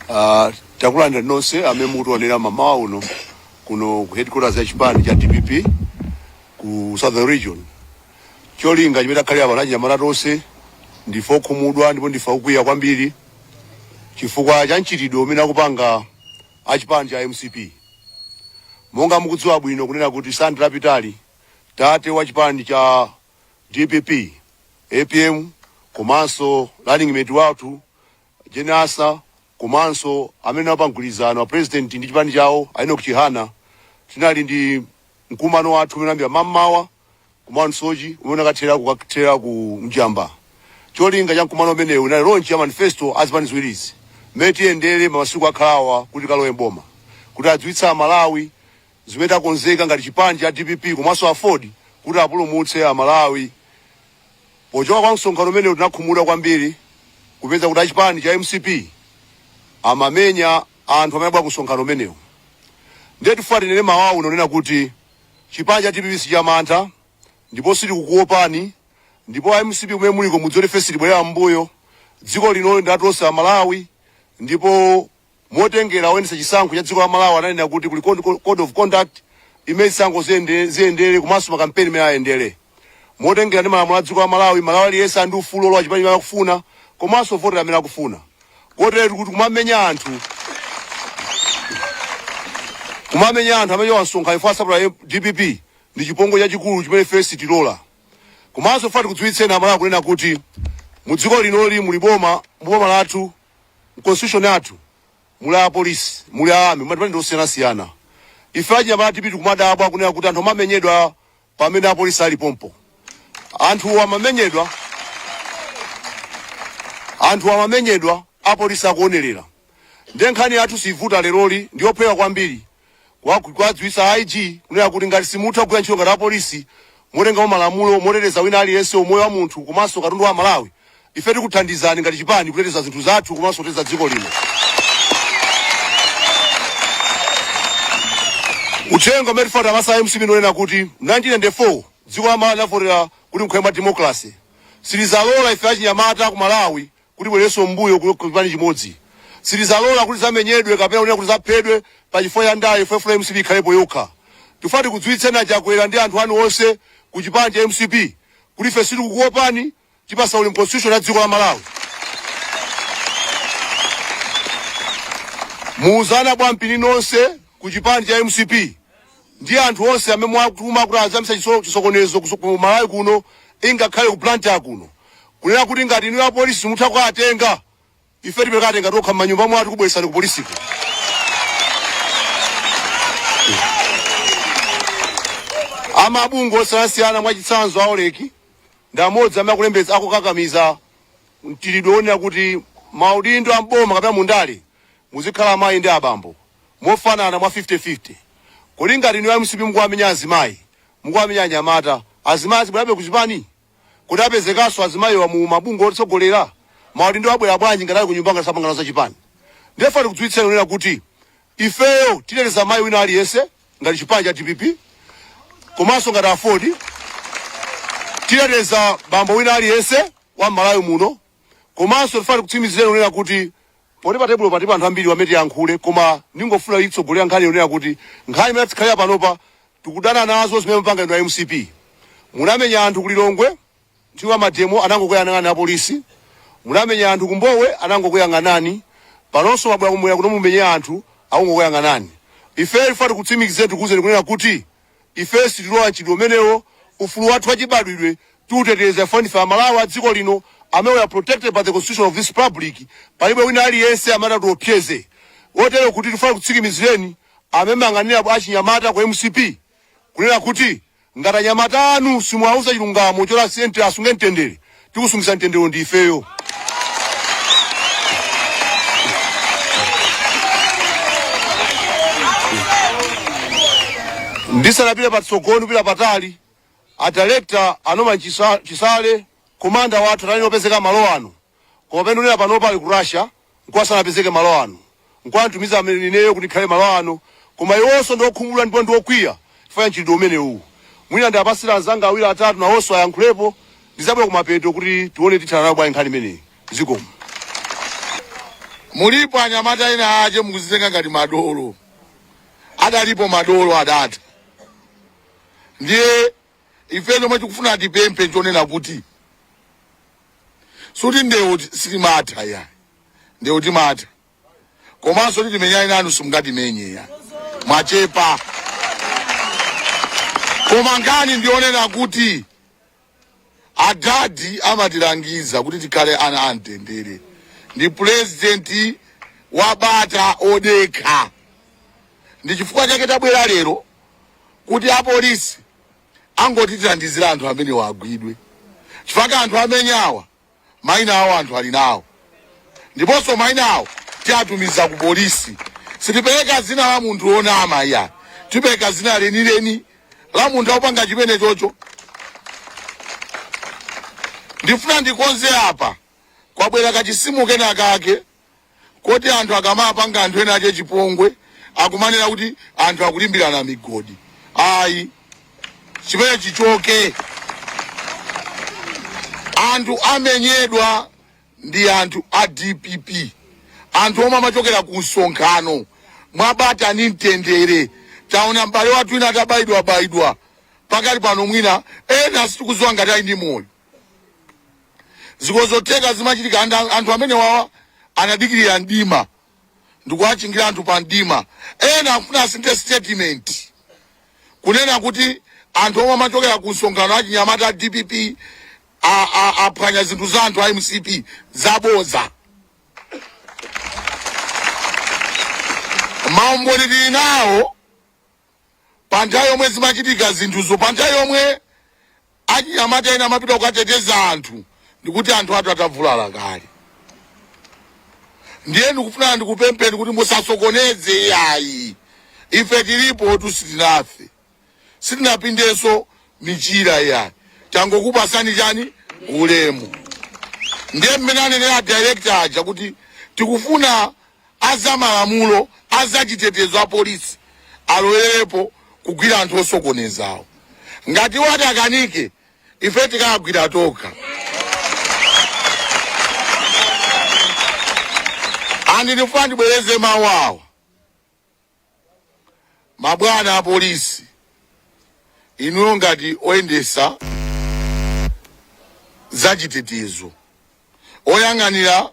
Uh, takulandira nonse amene mukutionera mamawa uno kuno ku headquarters ya chipani cha dpp ku southern region cholinga chimene takhalira pano achinyamata tonse ndife okhumudwa ndipo ndife okwiya kwambiri chifukwa cha mchitidwe umene akupanga achipani cha mcp monga mukudziwa bwino kunena kuti Sunday yapitayi tate wa chipani cha dpp apm komanso running mate wathu A Jane Ansah komanso amene anali pa mgwirizano, a president ndi chipani chawo, a Enock Chihana, tinali ndi mkumano wathu umene unayambira mammawa ku Mount Soche umene unakathera kukathera ku Njamba. Cholinga cha mkumano umenewu unali launch ya manifesto a zipani ziwirizi, mmene tiyendere masiku akhalawa kuti tikalowe m'boma, kuti adziwitse a Malawi zimene takonzeka ngati chipani cha dpp komanso aford kuti apulumutse amalawi pochoka kwa msonkhano umenewu tinakhumudwa kwambiri kupeza kuti achipani cha mcp amamenya anthu amene anabwera ku msonkhano umenewu ndiye tifuna tinene mmawa uno kunena kuti chipani cha dpp sichamantha ndipo sitikukuopani ndipo a mcp kumene muliko mudziwe kuti ife sitibwerera m'mbuyo dziko lino ndi la tonse amalawi ndipo Motengera oyendetsa chisankho cha dziko la Malawi ananena kuti kuli code of conduct imene zisankho ziyendere komanso ma campaign mmene ayendere. Motengera ndi malamulo a dziko la Malawi, Malawi aliyense ali ndi ufulu olowa chipani chimene akufuna komanso kuvotera amene akufuna. Koteretu kuti kumamenya anthu kumamenya anthu amene a msonkhano chifukwa asapota dpp ndi chipongwe chachikulu chimene ife sitilola. Komanso funa tikudziwitseni Amalawi kunena kuti mu dziko linoli muli boma, mu boma lathu mu constitution yathu muli a police muli a army madipatimenti osiyanasiyana ife achinyamata a dpp tikumadabwa kunena kuti anthu amamenyedwa pamene apolisi ali pompo anthu amamenyedwa apolisi akuonerera ndiye nkhani yathu siyivuta leroli ndiyophweka kwambiri kuwadziwitsa a IG kunena kuti ngati simutha kugwira ntchito ngati apolisi motengera malamulo moteteza wina aliyense umoyo wa munthu komanso katundu wa Amalawi, ife tikuthandizani ngati chipani kuteteza zinthu zathu komanso kuteteza dziko lino. Uthenga umene tifuna tipatse a mcp ndionena kuti 1994 dziko la Malawi linavotera kuti mukhale democracy. Sitizalola ife achinyamata ku Malawi kuti tibwererenso mbuyo ku chipani chimodzi sitizalola kuti tizamenyedwe kapena kunena kuti tizaphedwe pa chifukwa cha ndale chifukwa mufuna mcp ikhalepo yokha tifuna tikudziwitseni achakwera ndi anthu anu onse ku chipani cha mcp kuti ife sitikukuopani tipasa ulemu constitution ya dziko la malawi muwauze ana bwampini nonse ku chipani cha mcp ndi anthu onse amene mwatuma kuti azayambitsa chiso- chisokonezo kuso- ku malawi kuno ingakhale ku blantyre kuno Kunena kuti ngati inuyo apolisi simutha kukawatenga, ife tipita kukawatenga tokha m'manyumba mwathu kubweretsani kupolisiko. A mabungwe osiyanasiyana mwachitsanzo a Oxfam ndi amodzi amene akulembetsa akukakamiza mchitidwe wonena kuti maudindo a m'boma kapena mu ndale muzikhala amayi ndi abambo mofanana mwa 50-50. Kodi ngati inuyo a mcp mukuwamenya azimayi, mukuwamenya anyamata, azimayi azibwerabe ku chipani? Kodi apezekanso azimayiwa mu ma bungwe otsogolera? Maudindo abwera bwanji ngati ali kunyumba ngati sapanga nawo za chipani? Ndiye tifuna tikudziwitseni kunena kuti ifeyo titeteza mayi wina aliyense ngati chipani cha dpp komanso ngati aford titeteza bambo wina aliyense wa m'Malawi muno. Komanso tifuna tikutsimizireni kunena kuti poti pa tebulo patili anthu ambiri amene tiyankhule koma ningofuna nitsogolere nkhani yonena kuti nkhani imene takhalira panopa tikudana nazo zimene mupanga inu a mcp. Munamenya anthu ku Lilongwe nthawi ya mademo anangokuyang'anani a polisi, munamenya anthu ku Mbowe anangokuyang'anani, panonso mwabwera kummwera kuno mumenye anthu akungokuyang'anani. Ifeyo tifuna tikutsimikizireni tikuuzeni kunena kuti. Ife sitilola mchitidwe umenewo. Ufulu wathu wachibadwidwe tiuteteza chifukwa ndife Amalawi a dziko lino amene we are protected by the Constitution of this Republic. Palibe wina aliyense amene atiopseze. Kotero kuti tikufuna tikutsikimizireni amene mmayang'anira bw achinyamata ku mcp kunena kuti ngati anyamata anu simuwauza chilungamo choti asn asunge mtendere, tikusungitsa mtenderewo ndi ifeyo ndisanapita patsogolo ndipita patali adirekta a Norman Chisa- chisale komanda wathu anali oti apezeka malo ano koma pamene ndinena panopa ali ku russia nkwa sanapezeke malo ano, nkwa antumiza ineyo kuti ndikhale malo ano, koma iwonso ndi okhumudwa ndipo ndi okwiya chifukwa cha mchitidwe umenewu. Mwina ndiwapatsire anzanga awiri atatu nawonso ayankhulepo, ndizabwera kumapeto kuti tione tithana nayo bwanji nkhani imeneyi. Zikomo. Mulipo anyamata ena ache mukuzitenga ngati madolo, adalipo madolo adatha. Ndiye ife chomwe tikufuna tipemphe nchonena kuti sikuti ndewu ti- sitimatha ya ndewu timatha komanso kuti timenyane nanu simungatimenye ya mwachepa koma nkhani ndionena kuti adadi amatilangiza kuti tikhale ana amtendere ndi purezidenti wa bata odekha ndi chifukwa chake tabwera lero kuti apolisi angotithandizira anthu amenewa agwidwe chifukwa anthu amenyawa maina awo anthu ali nawo ndiponso maina awo tiatumiza ku polisi sitipereka zina la munthu wonama iya tipereka zina lenileni la munthu akupanga chimene chocho ndifuna ndikonze apa kwabwera kachisimo kena kake koti anthu akamapanga anthu ena ache chipongwe akumanena kuti anthu akulimbirana migodi ayi chimene chichoke anthu amenyedwa ndi anthu a dpp anthu omwe amachokera ku msonkhano mwabata ni mtendere taona m'bale wathu wina atabayidwabayidwa pakali pano mwina ena sitikuziwa ngati ali ndi moyo zikozotheka zimachitika anthu amenewawa anadikirira mdima ndikuwachingira anthu pa mdima ena akufuna asinthe statement kunena kuti anthu omwe amachokera ku msonkhano achinyamata a dpp a- a- aphwanya zinthu za anthu a mcp zaboza maumboni tili nawo pa nthawi yomwe zimachitika zinthuzo, pa nthawi yomwe achinyamata ena amapita kukateteza anthu, ndikuti anthu athu atavulala kale. Ndiye ndikufuna ndikupempheni kuti musasokoneze yayi, ife tilipotu sitinafe, sitinapindenso michira yayi, tangokupasani chani ulemu. Ndiye mmene anenera director aja kuti tikufuna a za malamulo, a za chitetezo, a polisi alowererepo kugwira anthu osokonezawo. Ngati iwo ati akanike, ife tikawagwira tokha. And ndifuna ndibwereze mawu awa, mabwana a polisi, inuyo ngati oyendesa za chitetezo, oyang'anira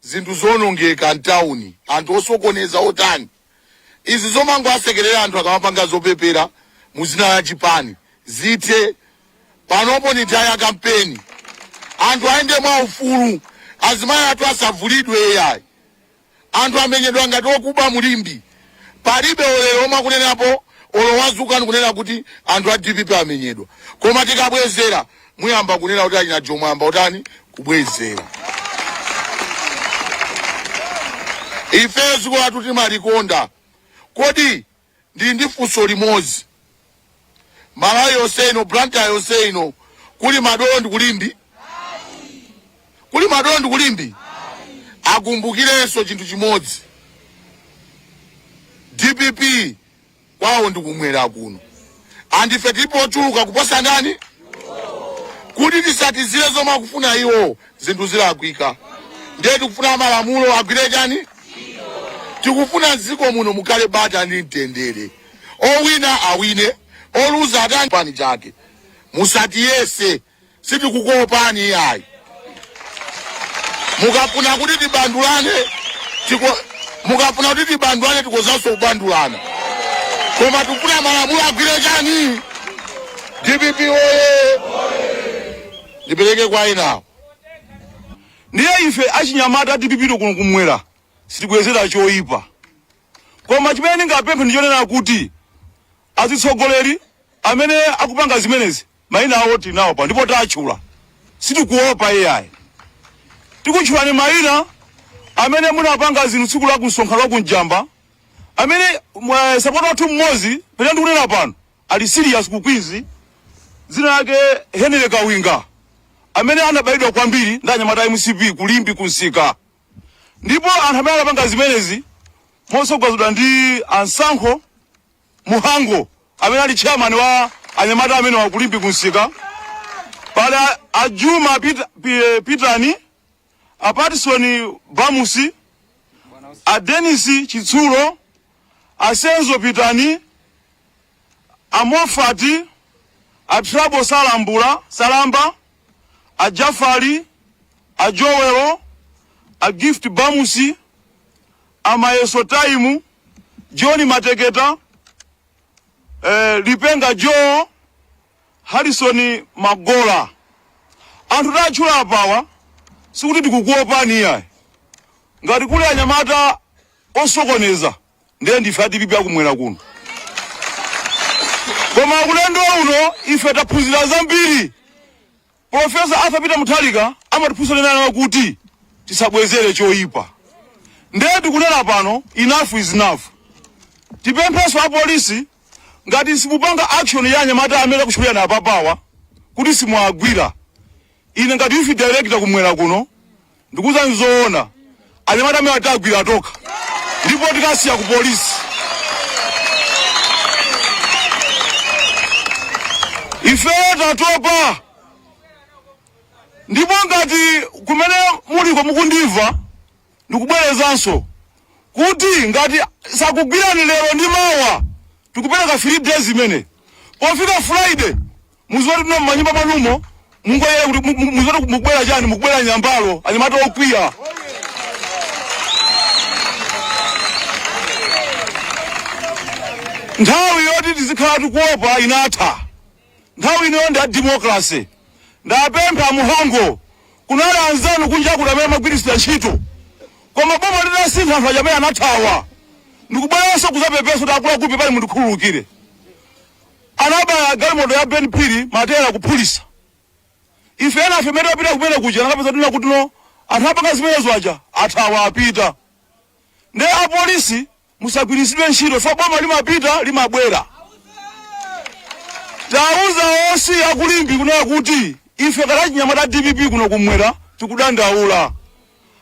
zinthu zoonongeka mtauni, anthu osokoneza otani, izi zomangowasekelera anthu akamapanga zopepera mu zina la chipani zithe panopo ni nthawi ya kampeni anthu ayende mwa ufulu azimayi athu asavulidwe ayi anthu amenyedwa ngati okuba mu Limbe. palibe olero omwe akunenapo olo wazuka ndikunena kuti anthu a dpp amenyedwa koma tikabwezera muyamba kunena kuti achina jomo ayamba kutani kubwezera ife ziko lathu timalikonda kodi ndili ndi funso limodzi malawi yonse ino blantyre yonse ino kuli madolo ndi ku limbe kuli madolo ndi ku limbe akumbukirenso chinthu chimodzi dpp kwawo ndikumwera kuno andife tilipo ochuluka kuposa ndani kuti titsatizire zomwe akufuna iwo zinthu zilakwika ndiye tikufuna malamulo agwire chani tikufuna mdziko muno mukhale bata ndi mtendere owina awine oluza atani pani chake musatiyese sitikukuopani iyayi mukafuna kuti tibandulane tikhozanso kubandulana koma tikufuna malamulo agwire chani dpp oye ndipereke kwa enawo ndiye ife achinyamata a dpp kuno kumwera sitibwezera choyipa Koma chimene ndingapemphe ndi chonena kuti azitsogoleri amene akupanga zimenezi maina awo tilinawo pano ndipo tatchula, sitikuopa ai. Tikutchulani maina amene munapanga zinthu tsiku la ku msonkhano wa ku Mjamba amene mwa- sapota wathu mmodzi pamene ndikunena pano ali serious ku Queens dzina lake Henry Kawinga amene anabayidwa kwambiri ndi anyamata a mcp ku Limbe kumsika Ndipo anthu amene anapanga zimenezi motsogozedwa ndi a Msankho Muhango amene ali chairman wa anyamata amenewa ku Limbe kumsika, pali a- a Juma Pit- Pi- Pitani, a Patson Bamusi, a Dennis Chitsulo, a Senzo Pitani, a Mofati, a Trabo Salambula, Salamba, A Jafali, a Joel, a Gift Bamusi, a Mayeso Taimu, John Mateketa, eh, Lipenga Joe, Harrison Magola. Anthu tatchula apawa sikuti tikukuopani iyayi. Ngati kuli anyamata osokoneza ndiye ndife a dpp akumwera kuno koma ulendo uno ife taphunzira zambiri profesa arthur peter mutharika amatiphunzira nena kuti tisabwezere choyipa ndiye tikunena pano enough is enough tipemphenso apolisi ngati simupanga action ya anyamata amene akutchulidwa apapawa kuti simuagwira ine ngati youth director kumwera kuno Ndikuuzani zoona, anyamata amenewa tiwagwira tokha ndipo tikawasiya ku polisi. Ifeyo tatopa ndipo ngati kumene muliko mukundimva ndikubwerezanso kuti ngati sakugwirani lero ndi mawa tikupereka 3 days imene pofika friday Mudziwe kutino m'manyumba mwanumo mungoyenera kuti mu- mu- mudziwe kuti mukubwera chani mukubwera nyambalo anyamata okwiya nthawi yoti tizikhala tikuopa inatha nthawi ino ndi ya demokrasi ndapempha muhongo kunali anzanu kunja kuti amene amagwiritsidwa ntchito koma boma litasintha anthu aja amene anathawa ndikubweranso kudzapepesa kuti akuluakulu pepani mundikhululukire Anabaya galimoto ya Ben Phiri mateyala kuphulisa. Ife enafe mmene timapita kumene kuja tinakapeza kuti no anthu apanga zimenezo aja athawa apita. Nde a polisi musagwiritsidwe ntchito chifukwa boma limapita limabwera. Tauza OC a ku Limbe kunena kuti ife ngati achinyamata a dpp kuno kummwera tikudandaula.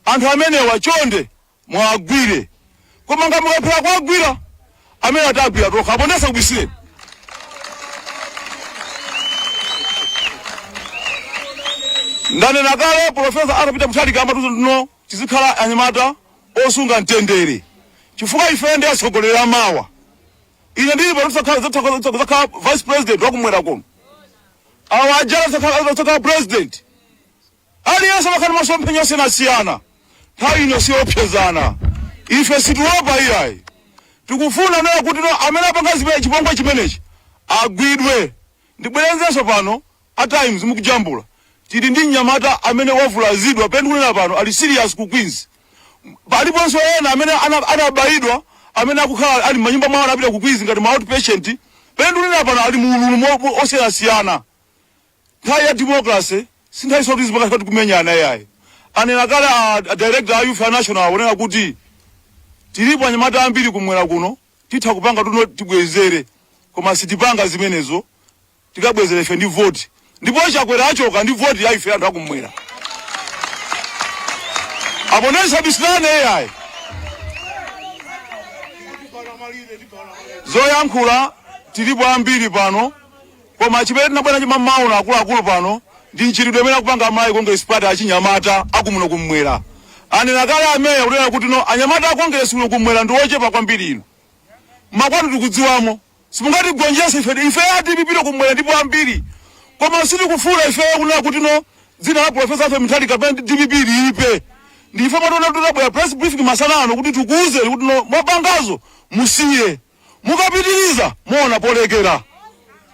Anthu amenewa chonde Muwagwire koma ngati mukulephera kuwagwira amenewa tiwagwira tokha apo nde ndisakubisireni ndanena kale profesa Arthur Peter Mutharika amatiuza kutino tizikhala anyamata osunga mtendere chifukwa ife ndi atsogoleri amawa ine ndili pano ndizakhala vice president wakummwera kuno awa a Jana azakhala president Aliyense amakhala ndi masomphenya osiyanasiyana. Nthawi ino siyoopsezana. Ife sitiopa iyayi. Tikufuna nawo kuti no amene apanga zimene chipongwe chimenechi agwidwe. Ndibwerezenso pano a Times mukujambula. Tili ndi mnyamata amene wavulazidwa pamene ndikunena pano ali serious ku Queens. Paliponso ena amene ana- anabayidwa amene akukhala ali m'manyumba mwawo anapita ku Queens ngati ma outpatient. Pamene ndikunena pano ali mu ululu mo- mo- osiyanasiyana. Nthawi ya democracy si nthawi yoti tizipanga zoti kumenyana iyayi. Anena kale a, a director a youth a national akunena kuti tilipo anyamata ambiri kummwera kuno titha kupanga kutino tibwezere koma sitipanga zimenezo tikabwezera ife ndi vote ndipo Chakwera achoka ndi vote ya ife anthu akummwera apo nde tisabisilane iyayi zoyankhula tilipo ambiri pano Koma chimene tinabwera nacho mammawa uno akuluakulu pano ndi mchitidwe umene akupanga a Malawi Congress Party achinyamata akumuno kummwera. Anena kale ameya kunena kuti no anyamata a Congress kuno kummwera ndi ochepa kwambiri inu mmakwanu tikudziwamo simungatigonjese ife ife a dpp kummwera ndife ambiri koma sitikufuna ifeyo kunena kuti no dzina la Professor Arthur Mutharika kapena dpp liipe ndiye mwationa kuti tabwera press briefing masana ano kuti tikuwuzeni kuti no mwapangazo musiye mukapitiriza muona polekera.